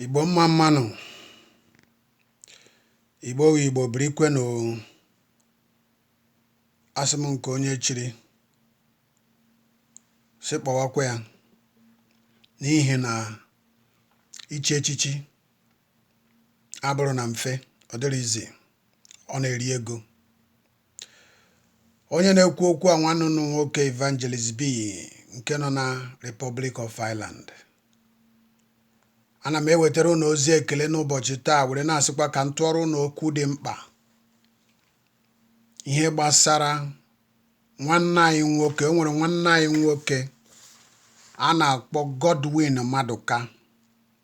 Igbo mma mma nụ, Igbo wụ Igbo birikwenụ asị m nke onye chiri sị kpọwakwa ya n'ihi na ichi echichi abụrụ na mfe ọ dịrịzi ọ na-eri ego Onye na-ekwu okwu a nwanne unu nwoke Evangelist B nke nọ na Republic of Ireland. Ana m ewetara unu ozi ekele n'ụbọchị taa were na-asịkwa ka m tụọrọ unu okwu dị mkpa. Ihe gbasara nwanne anyị nwoke, o nwere nwanne anyị nwoke a na-akpọ Godwin Maduka.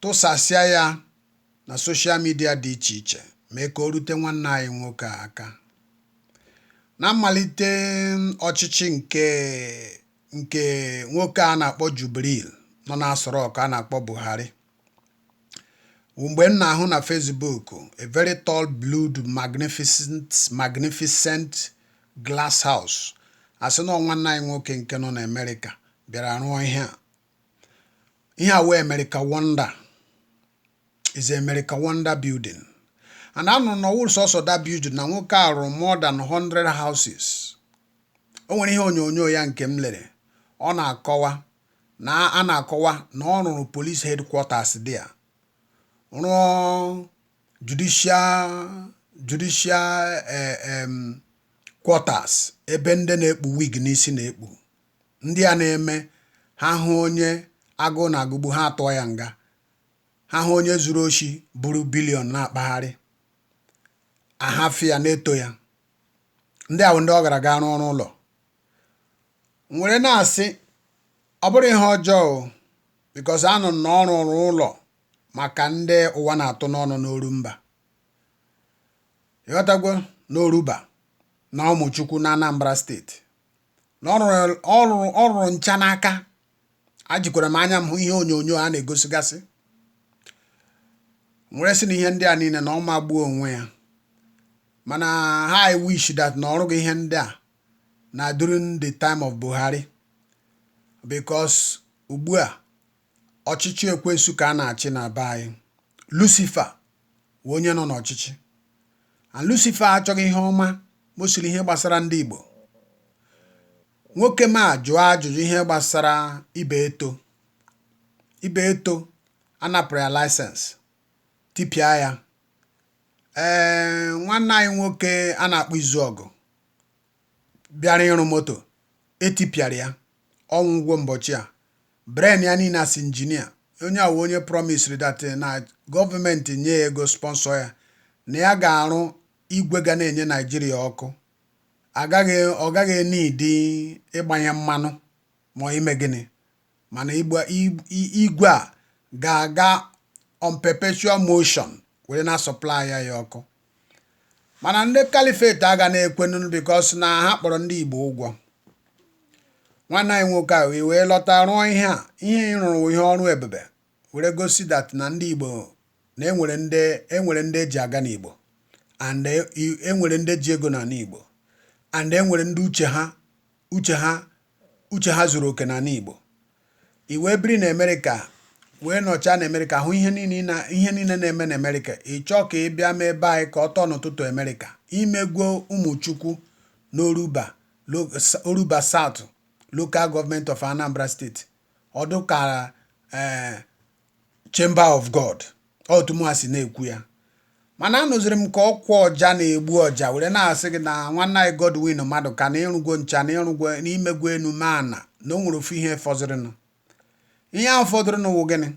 tụsasịa ya na social media dị iche iche mee ka o rute nwanne anyị nwoke a aka na mmalite ọchịchị nke nke nwoke a na-akpọ Jubril nọ n'Aso Rock a na-akpọ Buhari wụ mgbe m na-ahụ na Facebook a very tall blue magnificent magnificent glass house a sị na nwanne anyị nwoke nke nọ n'Amerịka bịara rụọ ihe a ihe a wụ America Wonder is America Wonder building and anụrụ m na ọ wụrụ sọsọ that building na nwoke a rụrụ more than 100 houses o nwere ihe onyonyo ya nke m lere ọ na-akọwa na a na-akọwa na ọ rụrụ police headquarters there rụọ judicial judicial eh, em, quarters ebe ndị na-ekpu wig n'isi na-ekpu Ndị a na-eme ha hụ onye agụụ na-agụgbu ha atụọ ya nga, ha hụ onye zuru oshi buru billion na-akpagharị ahafụ ya na-eto ya. Ndị a wụ ndị ọ gara gaa rụọrọ ụlọ m were na-asị ọ bụrụ ihe ọjọọ because anụ m na ọ rụrụ ụlọ maka ndị ụwa na-atụ n'ọnụ n'Orumba ị ghọtagwo n'Orumba na Umuchukwu na Anambra steeti na ọ rụrụ ọ rụrụ ncha n'aka ajikwara m anya m hụ ihe onyonyo a na-egosigasị m were sị na ihe ndị a niile na ọ magbuo onwe ya mana how I wish that na ọ rụghị ihe ndị a na during the time of Buhari because ugbu a ọchịchị ekwensu ka a na-achị na be anyị Lucifer wụ onye nọ n'ọchịchị and Lucifer achọghị ihe ọma mostly ihe gbasara ndị Igbo nwoke m a jụọ ajụjụ ihe gbasara Ibeto Ibeto a napụrụ ya license tipịa ya ee nwanne anyị nwoke a na-akpọ Izuogu bịara ịrụ moto etipịara ya ọ nwụgwo mbọchị a brain ya niile as injinia onye a wụ onye promisiri that na gọọmenti nye ya ego sponsor ya na ya ga-arụ igwe ga na-enye naijiria ọkụ ọ gaghị enidi ịgbanye mmanụ ma ime gịnị mana igwe a ga-aga on perpetual motion were na supply ya ọkụ mana ndị caliphate aga na-ekwenu because na ha kpọrọ ndị Igbo ụgwọ nwanne anyị nwoke a wee lọta rụọ ihe a ihe ị rụrụ ihe ọrụ ebube were gosi that na ndị Igbo na enwere ndị e ji aga n'Igbo and enwere ndị ji ego n'ala Igbo and enwere ndị uche ha uche ha zuru oke n'ala Igbo i wee biri na Amerịka wee nọchaa na Amerịka hụ ihe niile na-eme na Amerịka ị chọọ ka ị bịa mee ebe anyị ka ọ turn into Amerịka i megwo Umuchukwu n'Orumba Orumba South Local Government of Anambra State ọ dụ ka ee eh, Chamber of God otu mụ si na-ekwu ya mana anụziri m ka ọkwa ọja na-egbu ọja were na-asị gị na nwanne anyị Godwin Maduka na ị rụgwo ncha na ị rụgwo na i megwo enu mee ana na o nwere ofu ihe fọdụrụnụ ihe ahụ fọdụrụnụ wụ gịnị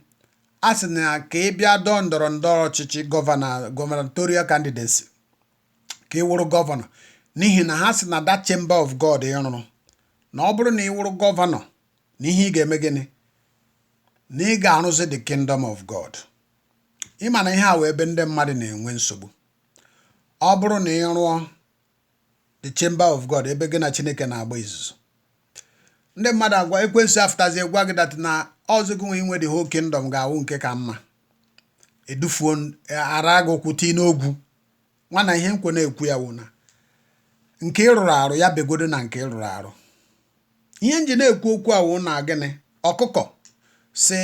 a sị na ka ị bịa dọọ ndọrọ ndọrọ ọchịchị gubernatorial candidacy ka ị wụrụ gọvanọ n'ihi na ha sị na that chamber of God ị rụrụ na ọ bụrụ na ị wụrụ gọvanọ na ihe ị ga-eme gịnị na ị ga-arụzi the kingdom of God ị ma na ihe a wụ ebe ndị mmadụ na-enwe nsogbu ọ bụrụ na ị rụọ the chamber of God ebe gị na Chineke na-agba izuzu ndị mmadụ agwa ekwensu afụtazie gwa gị that na ọ wụzị gị nwa inwe the whole kingdom ga-awụ nke ka mma edufuo ara gị ụkwụ tii n'ogwu nwa na ihe nkwe na-ekwu ya wụ na nke ịrụrụ arụ ya begodo na nke ịrụrụ arụ ihe nji na-ekwu okwu a wụ na gịnị ọkụkọ si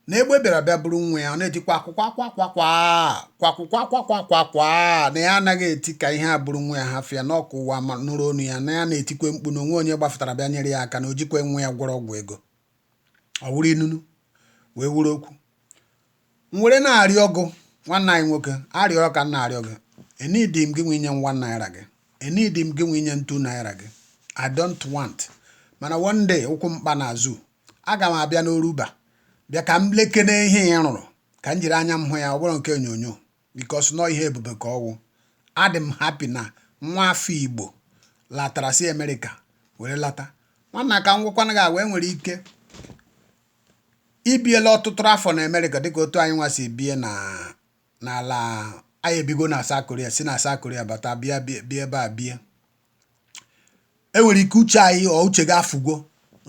na egbe bịara bịa bụrụ nwa ya ọ na-etikwa akwụkwọ akwa akwa kwa kwakwụkwọ akwa kwa kwa kwa na ya anaghị eti ka ihe a bụrụ nwa ya hafịa na ọkụ ụwa ma nụrụ onu ya na ya na-etikwe mkpu na onwe onye gbafụtara bịa nyere ya aka na o jikwe nwa ya gwọrọ ọgwụ ego ọ wụrụ inunu wee wuru okwu m were na-arịọ gị nwanne anyị nwoke arịrịọ ka m na-arịọ gị enidi m gị nwa inye m one naira gị enidi m gị nwa inye m two naira gị I don't want mana one day ụkwụ m kpa ana ọzọ aga m abịa n'Orumba bịa ka m lekene ihe ị rụrụ ka m jiri anya m hụ ya ọ bụrọ nke onyonyo because na ihe ebube ka ọ wụ adị m happy na nwa afọ igbo latara si amerịka were lata nwanna ka m gwakwana gị agwa enwere ike ibiela ọtụtụ afọ na America dịka otu anyị nwa si bie na n'ala anyị ebigo na South Korea si na South Korea bata bịa bịa ebe a bie enwere ike uche anyị ọ uche gị afụgo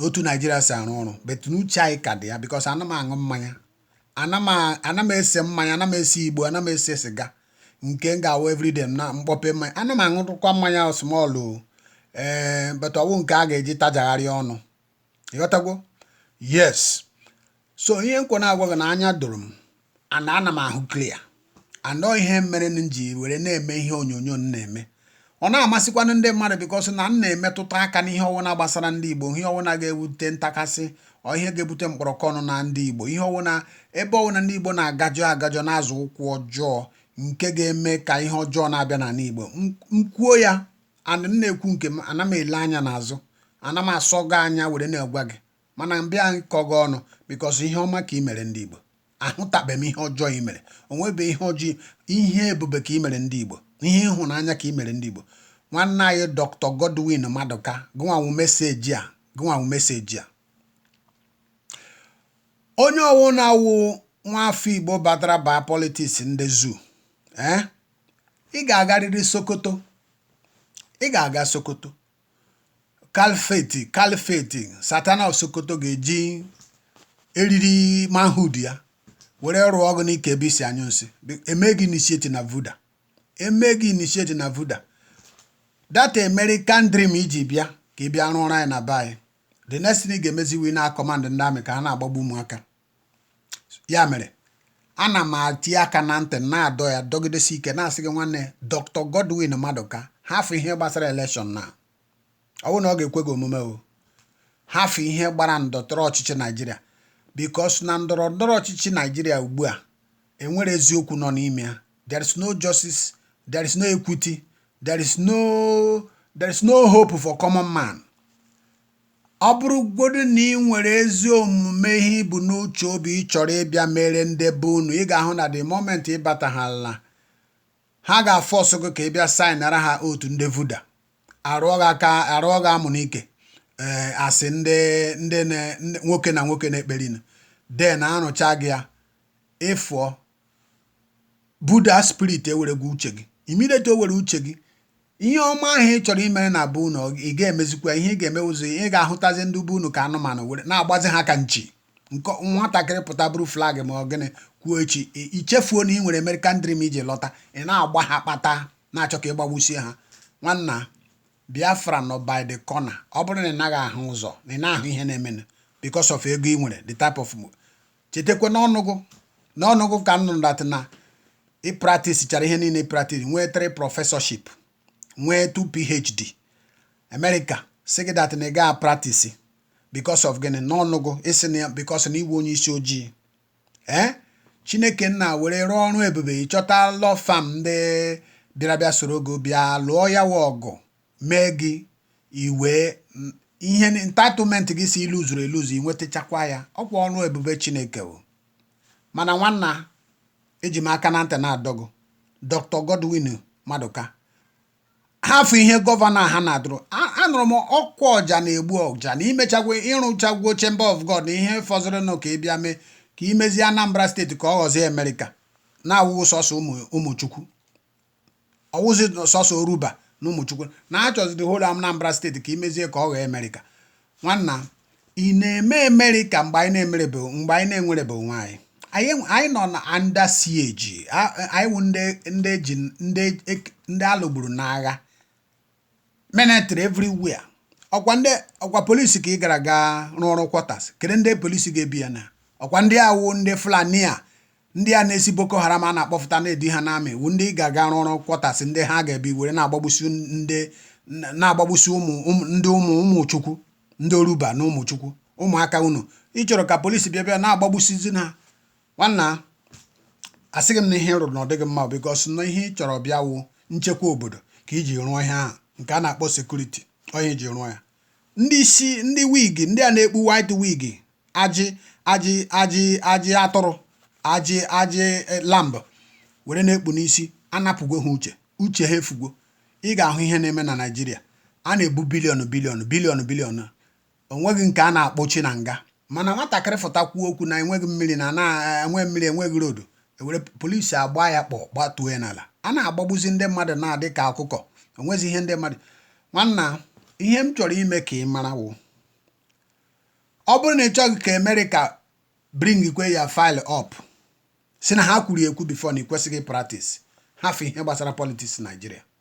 otu Nigeria si arụ ọrụ but na uche anyị ka dị ya because ana m aṅụ mmanya ana m ese mmanya ana m ese igbo ana m ese siga nke m ga-awụ everyday na m kpọpe mmanya ana m aṅụrụkwa mmanya small ee eh, but ọ wụ nke a ga-eji tajagharị ọnụ ị ghọtagwo yes so ihe m kwa na-agwa gị na anya doro m and ana m ahụ clear and ọ ihe mere m ji were na-eme ihe onyonyo m na-eme ọ na-amasịkwanụ ndị mmadụ because na m na-emetụta aka n'ihe ọwụna gbasara ndị Igbo ihe ọwụna ga-ebute ntakasị or ihe ga-ebute mkpọrọkọ ọnụ na ndị Igbo ihe ọwụna ebe ọwụna ndị Igbo na-agajọ agajọ na-azọ ụkwụ ọjọọ nke ga-eme ka ihe ọjọọ na-abịa n'ala Igbo m kwuo ya and m na-ekwu nke m ana m ele anya n'azụ ana m asọ gị anya were na-agwa gị mana m bịa ịkọ gị ọnụ because ihe ọma ka ị mere ndị Igbo ahụtabeghị m ihe ọjọọ ị mere o nwebe ihe ọjọọ ihe ebube ka ị mere ndị Igbo ihe ịhụnanya ka ị mere ndị Igbo nwanne anyị Dr. Godwin Madụka gụnwa nwu message a gụnwa nwu message a onye ọwụna wụ nwa afọ Igbo batara baa politics ndị zoo ee eh? ị ga-agarịrị Sokoto ị ga-aga Sokoto Caliphate Caliphate Sultan of Sokoto ga-eji eriri manhood ya were rụọ gị n'ike ebe i si anyụ nsị e mee gị initiate na vuda e mee gị initiate na vuda that American dream i ji bịa ka ị bịa rụọrọ anyị na be anyị the next thing ị ga-emezi wụ ịna command ndị army ka ha na-agbagbu ụmụaka ya mere ana m ati aka na ntị na-adọ ya dọgidesi ike na-asị gị nwanne Dr. Godwin Madụka hafụ ihe gbasara election na ọ bụrụ na ọ ga-ekwe gị omume o hafụ ihe gbara ndọrọ ọchịchị Nigeria because na ndọrọ ndọrọ ọchịchị Nigeria ugbu a enwere eziokwu nọ n'ime ya there is no justice there is no equity there is no there is no hope for common man Ọ bụrụgodu na ị nwere ezi omume ihe i bu n'uche obi ị chọrọ ịbịa mere ndị be unu ị ga-ahụ na the moment ị bataghala ha ga-afọsụ gị ka ị bịa saịnara ha otu ndị vuda arụọ gị aka arụọ gị amụ n'ike ee a sị ndị ndị na- ndị- nwoke na nwoke na-ekperinu then arụcha gị ya ị fụọ buda spirit ewere gụ uche gị immediately o were uche gị ihe ọma ahụ ị chọrọ imere na be unu ị ga-emezikwa ihe ị ga-eme ụzọ ị ga-ahụtazi ndị be unu ka anụmanụ were na-agbazi ha ka nchi nke nwatakịrị pụta buru flag ma ọ gịnị kwuo echi i chefuo na ị nwere American dream i ji lọta ị na-agba ha kpata na-achọ ka ị gbagbusie ha nwanna Biafra nọ by the corner ọ bụrụ na ị naghị ahụ ụzọ na ị na-ahụ ihe na-emenụ because of ego ị nwere the type of chetakwa n'ọnụ gụ n'ọnụ gụ ka m nụrụ that na ị practice chara ihe niile ị practice nwee three professorship nwee two PhD America sị gị that na ị gaa practice because of gịnị n'ọnụ gụ ị sị na ya because na ị wụ onye isi ojii ee eh? Chineke nna were rụọ ọrụ ebube ị chọta law firm ndị bịara bịa soro gị bịa lụọ ya wa ọgụ mee gị i nwee ihe entitlement gị sị i luzuru eluzu i nwetachakwa ya ọkwa ọrụ ebube Chineke o mana nwanna eji m aka na ntị na-adọ gụ Dr. Godwin Maduka hafụ ihe gọvanọ ha na-adụrụ anụrụ m ọkwa ọja na-egbu ọja na i mechagwo ị rụchagwo Chamber of God na ihe fọzụrụnụ ka ị bịa mee ka i mezie Anambra steeti ka ọ ghọzie Amerịka na-awụghị sọsọ Ụmụchukwu ọ wụzi sọsọ Orumba na Ụmụchukwu na a chọzi the whole Anambra steeti ka i mezie ka ọ ghọọ Amerịka nwanna ị na-eme Amerịka mgbe anyị na-emerebe mgbe anyị na-enwerebe onwe anyị anyị nọ na under siege anyị wụ ndị eji ndị a lụgburu n'agha military everywhere ọkwa ndị ọkwa polisi ka ị gara gaa rụọrọ quarters kedu ndị polisi ga-ebi ya na ọkwa ndị a wụ ndị Fulani a ndị a na-esi Boko Haram a na-akpọfụta na-edi ha n'army wụ ndị ị ga-aga rụọrọ quarters ndị ha ga-ebi were na-agbagbusi ndị na-agbagbusi ụmụ ndị ụmụ Ụmụchukwu ndị Orumba na Ụmụchukwu ụmụaka unu ị chọrọ ka polisi bịa bịa na-agbagbusizi ha nwanna asịghị m na ihe ị rụrụ na ọ dịghị mma because na ihe ị chọrọ bịa wụ nchekwa obodo ka i ji rụọ ihe ahụ nke a na-akpọ security onye ji rụọ ya ndị isi ndị wig ndị a na-ekpu white wig ajị ajị ajị ajị atụrụ ajị ajị e, lamb were na-ekpu n'isi anapụgo ha uche uche ha efugo ị ga-ahụ ihe na-eme na Naịjirịa a na-ebu billion billion billion billion o nweghị nke a na-akpọchi na nga mana nwatakịrị fụta kwuo okwu na enweghị mmiri na na enweghị mmiri enweghị road e were polisi agba ya kpọ gbatuo ya n'ala a na-agbagbuzi ndị mmadụ na-ada ka ọkụkọ o nwezi ihe ndị mmadụ nwanna ihe m chọrọ ime ka ị mara wụ ọ bụrụ na ị chọghị ka Amerịka bringikwe your file up sị na ha kwuru ekwu before na ị kwesịghị practice hafụ ihe gbasara politics Naịjirịa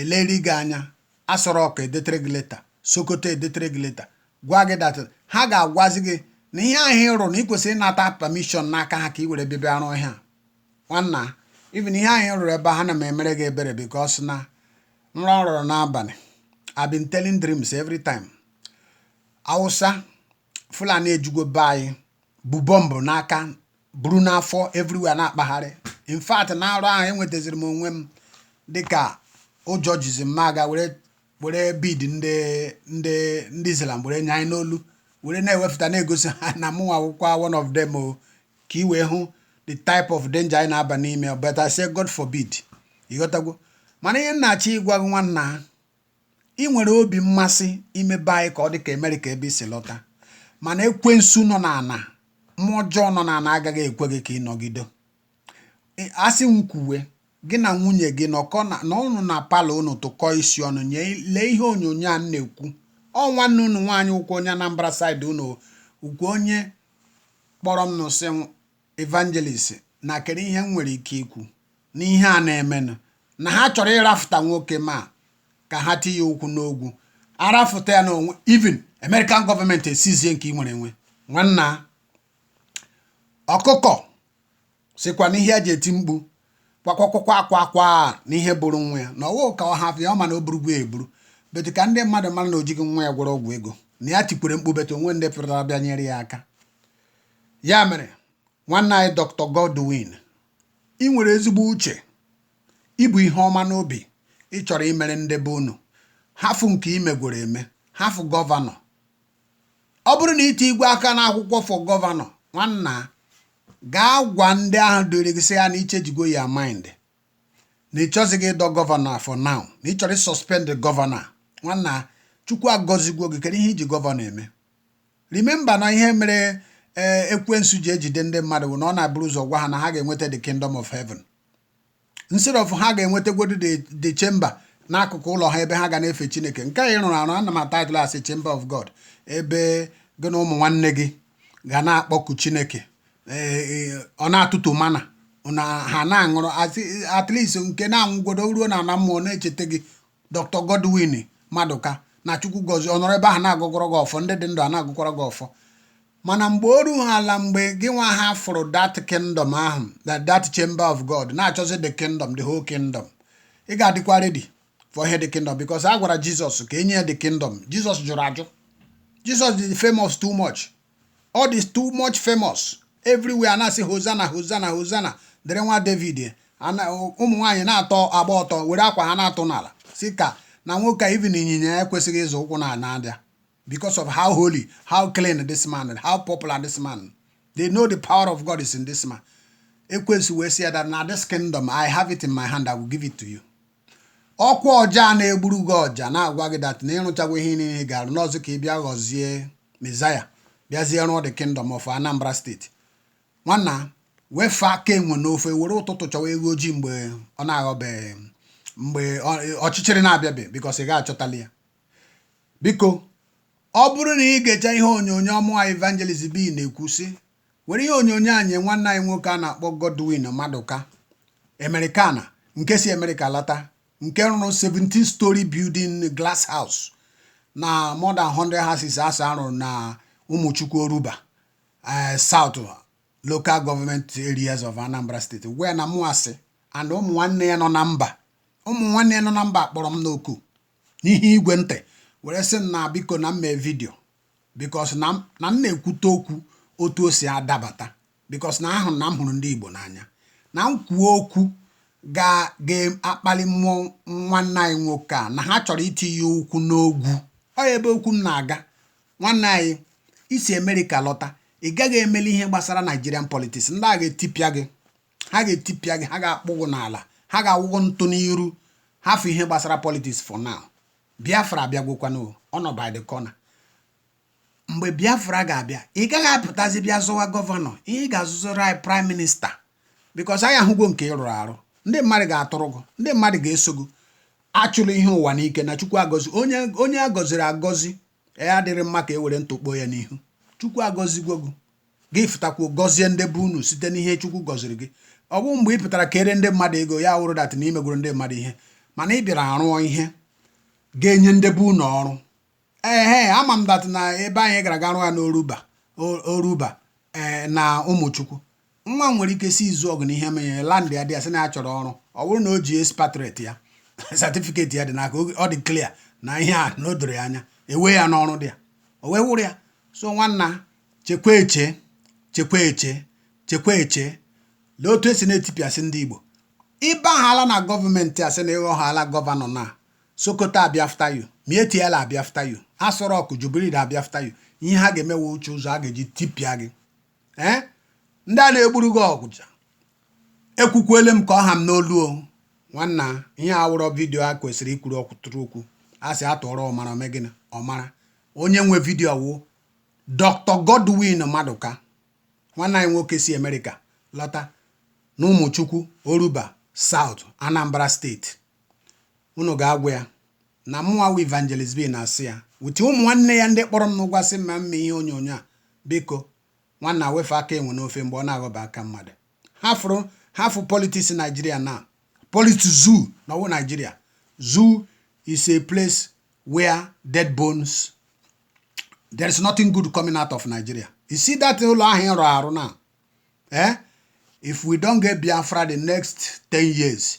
eleri gị anya Aso Rock edetere gị leta Sokoto edetere gị leta gwa gị that ha ga-agwazi gị na ihe ahụ ị rụrụ na ị kwesịrị ịnata permission n'aka ha ka ị were bịa bịa rụọ ihe a nwanna even ihe ahụ ị rụrụ ebe ahụ ana m emere gị ebere because na nrọ m rọrọ n'abalị I've been telling dreams every time Awụsa Fulani ejugo be anyị bu bọmbụ n'aka buru n'afọ everywhere na-akpagharị in fact na nrọ ahụ enwetaziri m onwe m dịka ụjọ jizi m m gaa were were bead ndị ndị ndị Islam were nyanye n'olu were na-ewepụta na-egosi ha na mụnwa wụkwa one of them o ka ị wee hụ the type of danger anyị na-aba n'ime but I say God forbid ịghọtagwo mana ihe m na-achọ ịgwa gị nwanna ị nwere obi mmasị ime be anyị ka ọ dị ka Amerịka ebe i si lọta mana ekwensu nọ n'ala mmụọ ọjọọ nọ n'ala agaghị ekwe gị ka ị nọgide asị m kwuwe gị na nwunye gị nọkọ na ụnọ na parlour ụnụ tụkọọ isi ọnụ lee ihe onyonyo a na-ekwu ọ nwanne ụnụ nwaanyị ụkwụ onye Anambra side ụnụ ụkwụ onye kpọrọ m na-asị Evangelist na kedu ihe m nwere ike ikwu n'ihe a na-emenụ na ha chọrọ ịrafụta nwoke ma ka ha tinye ụkwụ n'ogwu arafụta ya n'onwe even American government esizie nke ị nwere enwe nwanna ọkụkọ sịkwa na ihe ya ji eti mkpu kwakwakwakwa akwa akwa n'ihe buru nwa ya na ọwụ ka ọ hafụ ya ọ ma na o burugwo ya eburu but ka ndị mmadụ mara na o jighị nwa ya gwọrọ ọgwụ ego na ya tikwara mkpu but onwe ndị pụtara bịa nyere ya aka ya mere nwanne anyị Dr. Godwin ị nwere ezigbo uche i bu ihe ọma n'obi ị chọrọ imere ndị be unu hafụ nke imegworo eme hafụ gọvanọ ọ bụrụ na i tinyegwo aka n'akwụkwọ for gọvanọ nwanna gaa gwa ndị ahụ dịrị gị sị ya na i chenjigo your mind na ị chọzighị ịdọ gọvanọ for now na ị chọrọ ị-suspend gọvanọ nwanna chukwu agọzigwo gị kedu ihe iji gọvanọ eme Remember na ihe mere ee eh, ekwensu ji ejide ndị mmadụ bụ na ọ na-abụrụ ụzọ gwa ha na ha ga-enweta the kingdom of heaven instead of ha ga-enwetagwodu the chamber n'akụkụ ụlọ ha ebe ha ga na-efe chineke nke a ị rụrụ arụ ana m a-title as chamber of God ebe gị na ụmụ nwanne gị ga na-akpọku chineke eh, eh, ọ na-atụtụ mana na ha na-aṅụrụ at least nke na-anwụgodo ruo na ala mmụọ na-echeta gị Dr. Godwin Madụka na Chukwu gọzie ọ nọrọ ebe ahụ na-agọgọrọ gị ọfọ ndị dị ndụ a na-agọkwara gị ọfọ mana mgbe o rughị ala mgbe gị nwa hafụrụ that kingdom ahụ that chamber of God na-achọzi the kingdom the whole kingdom ị ga-adịkwa ready for ihe the kingdom because a gwara Jizọs ka enye ya the kingdom Jizọs jụrụ ajụ Jizọs dị famous too much ọ dị too much famous everywhere na-asị hozana hozana hozana dịrị nwa david ụmụ nwaanyị na-agba ọtọ were akwa ha na-atụ n'ala sị ka na nwoke a even ịnyịnya ya ekwesịghị ịzọ ụkwụ n'ala because of how holy how clean this man how popular this man they know the power of god is in this man ekwensu wee sị ya that na this kingdom i have it in my hand i will give it to you ọkwa ọja a na-egburu gị ọja na-agwa gị that na ị rụchagwo ihe niile ga-arụ n'ọzọ ka ị bịa ghọzie mezaya bịazie rụọ the kingdom of Anambra State nwanna wefụ aka enwe n'ofe were ụtụtụ chọwa eghu ojii mgbe ọ na-aghọbeghị mgbe ọchịchịrị na-abịabe because ị ga-achọtali ya biko ọ bụrụ na i gechaa ihe onyonyo a mụwa evangelist B na-ekwu sị were ihe onyonyo a nye nwanne anyị nwoke a na-akpọ Godwin Maduka Americana nke si America lata nke rụrụ 17 story building glass house na more than 100 houses a sị ọ rụrụ na Umuchukwu Orumba eh, South local government areas of Anambra State gwa ya na mụ asị and ụmụ nwanne ya nọ na mba ụmụ nwanne ya nọ na mba kpọrọ m n'oku n'ihe igwe ntị were sị m na biko na m mee video because na m na m na-ekwute okwu otu o si adabata because na ahụrụ na m hụrụ ndị Igbo n'anya na m kwuo okwu ga ga-akpali mmụọ nwanne anyị nwoke a na ha chọrọ itinye ụkwụ n'ogwu ọ ebe okwu m na-aga nwanne anyị i si America lọta ị gaghị emeli ihe gbasara Nigerian politics ndị a ga-etipịa gị ha ga-etipịa gị ha ga-akpụ gị n'ala ha ga-awụ gị ntụ n'iru hafụ ihe gbasara politics for now Biafra abịagwokwanụ o, ọ nọ by the corner. Mgbe Biafra ga-abịa, ị gaghị apụtazi bịa zọwa gọvanọ, ihe ị ga-azọziri anyị Prime Minister because anyị ahụgo nke ị rụrụ arụ. Ndị mmadụ ga-atụrụ gị, ndị mmadụ ga-eso gị. Achụla ihe ụwa n'ike na Chukwu gọzie onye onye a gọziri agọzi ya adịrị mma ka e were ntụ kpoo ya n'ihu chukwu agọzigwo gị gị fụtakwuo gọzie ndị be unu site n'ihe chukwu gọziri gị ọ bụ mgbe ị pụtara kere ndị mmadụ ego ya wụrụ that na i megoro ndị mmadụ ihe mana ị bịara arụọ ihe ga-enye ndị be unu ọrụ ehe ama m that na ebe anyị gara ga rụọ ya n'Orumba Orumba ee eh, na Umuchukwu nwa nwere ike si Izuogu na Iheme ya landịa ya sị na ya chọrọ ọrụ ọ bụrụ na o ji expatriate ya certificate ya dị n'aka ọ dị clear na ihe a na o doro ya anya ewe ya n'ọrụ dị ya o wee wụrụ ya so nwanna chekwa eche chekwa eche chekwa eche lee otu e si na-etipịasị ndị Igbo ị bahala na government a sị na ị ghọhala gọvanọ na Sokoto abịa after you Miyetti Allah abịa after you Aso Rock Jubril abịa after you ihe ha ga-emewe wụ iche ụzọ ha ga-eji tipịa gị ee ndị a na-egburu gị ọja ekwukwele m ka ọ ha m n'olu o nwanna ihe a wụrọ vidiyo e kwesịrị ikwuru ọkwụtụrụ okwu a sị a tụọrọ ọmara o mee gịnị ọ mara onye nwe vidiyo wụ Dr. Godwin Maduka nwanne anyị nwoke si Amerịka lọta na Umuchukwu Orumba South Anambra State unu ga-agwa ya na mụnwa wụ Evangelist B na-asị ya with ụmụ nwanne ya ndị kpọrọ m n'ụgwọ sị m mee ihe onyonyo a biko nwanna wefụ aka enwe n'ofe mgbe ọ na-aghọba aka mmadụ hafụrụ hafụ politics Nigeria na politics zoo na ọ wụ Nigeria zoo is a place where dead bones there is nothing good coming out of Nigeria you see that ụlọ ahụ ị rụ arụ now eh if we don't get Biafra the next 10 years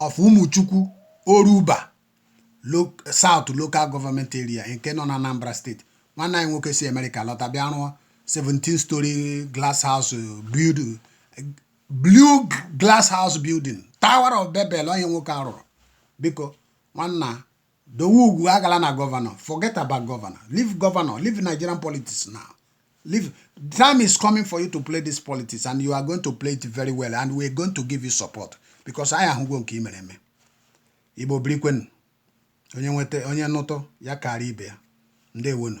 of Umuchukwu Orumba South Local Government Area nke nọ na Anambra State nwanne anyị nwoke si Amerịka lọta bịa rụọ 17 story glass house building blue glass house building Tower of Babel onye nwoke a rụrụ biko nwanna Dowe ugwu agala na governor. Forget about governor. Leave governor. Leave Nigerian politics now. Leave. Time is coming for you to play this politics and you are going to play it very well and we are going to give you support because anyị ahụgo nke i mere eme. Igbo birikwenu. Onye nweta onye nụtụ ya kaara ibe ya. Ndewonu.